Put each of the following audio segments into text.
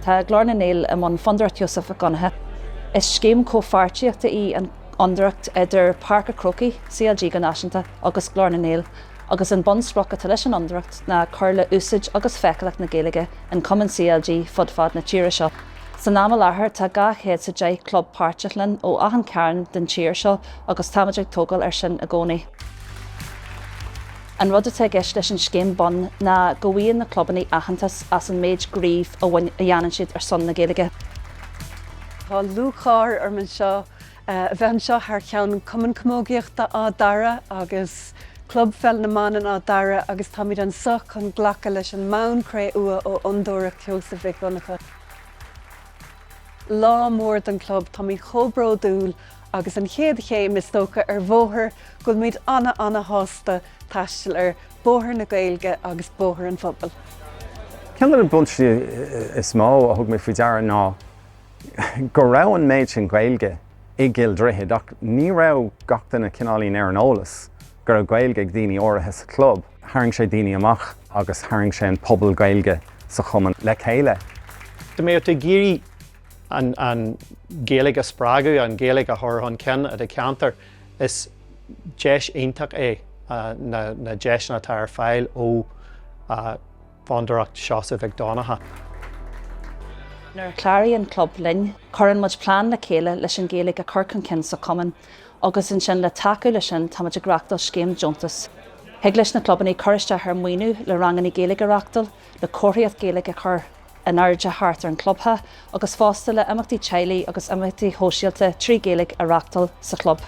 Tá Glór na nGael i mbun Fondúireacht Sheosaimh Mhic Dhonncha. Is scéim comhpháirtíochta í an Fhondúireacht idir Páirc a' Chrócaigh, CLG go náisiúnta, agus Glór na nGael, agus an bunsprioc atá leis an Fhondúireacht ná cur le úsáid agus feiceálacht na Gaeilge i gcumainn CLG fud fad na tíre seo. San am i láthair tá dhá chéad 's a deich club páirteach linn ó achan chearn den tír seo agus táimid ag tógáil ar sin i gcónaí. An rud atá i gceist leis an scéim bun ná go bhfaigheann na clubanna aitheantas as an méid gníomh a dhéanann siad ar son na Gaeilge. Tá lúcháir orm anseo a bheith anseo thar cheann Cumann Camógaíochta Áth Dara agus Club Peil na mBan Áth Dara agus táimid anseo chun glacadh leis an mbonn cré-umha ó Fhondúireacht Sheosaimh Mhic Dhonncha. Lá mór don chlub, táimid chomh bródúil Agus an chéad chéim, is dócha, ar bhóthar go bhfuilimid ana-ana-shásta taisteal air, bóthar na Gaeilge agus bóthar an phobail. Ceann de na buntáistí is mó a thug mé faoi deara ná go raibh an méid sin Gaeilge i gCill Droichid ach ní raibh gach duine cineáilín ar an eolas go raibh Gaeilge ag daoine áirithe sa chlub. Tharraing sé daoine amach agus tharraing sé an pobal Gaeilge sa chumann le chéile. Tá mé ag iarraidh an Ghaeilge a spreagadh, an Ghaeilge a chur chun cinn i do cheantar, is deis iontach é na deiseanna atá ar fáil ó Fondúireacht Sheosaimh Mhic Dhonncha. Nuair a chláraíonn an club linn, cuireann muid plean le chéile leis an Ghaeilge a chur chun cinn sa chumann agus ansin le tacú leis sin táimid ag reachtáil scéim deontas. Thig leis na clubanna cur isteach ar mhaoiniú le ranganna Gaeilge a reachtáil, le comharthaíocht Ghaeilge a chur, in airde thart ar an gclubtheach agus fosta le imeachtaí teaghlaigh agus imeachtaí sóisialta trí Ghaeilge a reachtáil sa chlub.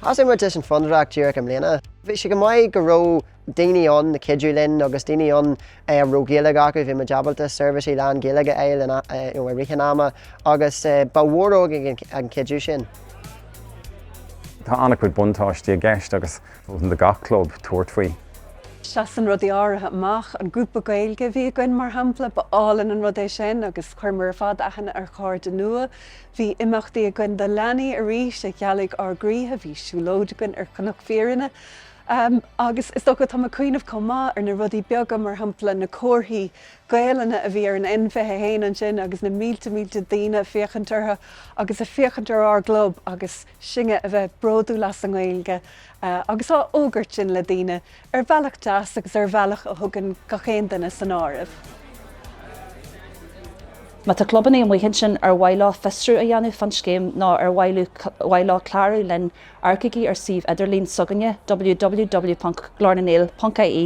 Thosaigh muid leis an Fondúireacht díreach i mbliana. Bhí sé go maith go raibh daoine ann ag cuidiú linn agus daoine ann a raibh Gaeilge acu, bhí muid ábalta seirbhísí lán-Ghaeilge a fháil i rith an ama agus ba mhór againn an cuidiú sin. Tá an-chuid buntáistí i gceist agus Mholfainn do gach club tabhairt faoi. Seasann rudaí áirithe amach. An grúpa Gaeilge a bhí againn, mar shampla, ba álainn an rud é sin agus chuireamar ar fad aithne ar chairde nua. Bhí imeachtaí againn do leanaí arís a ghealaigh ár gcroíthe, bhí siúlóid againn ar Chnoc Fírinne agus, is dócha, táim ag cuimhneamh chomh maith ar na rudaí beaga, mar shampla, na comharthaí Gaelainne a bhí ar an N fiche a haon ansin agus na mílte, mílte daoine ag féachaint orthu agus ag féachaint ar ár gclub agus. Sinne a bheith bródúil as an nGaeilge agus á fhógairt sin le daoine, ar bhealach deas agus ar bhealach a thugann gach aon duine san áireamh. Má tá clubanna amuigh ansin ar mhaith leo fiosrú a dhéanamh fán scéim nó ar mhaith leo clárú linn, amharcaigí ar suíomh idirlín s'againne, www.glornangael.ie,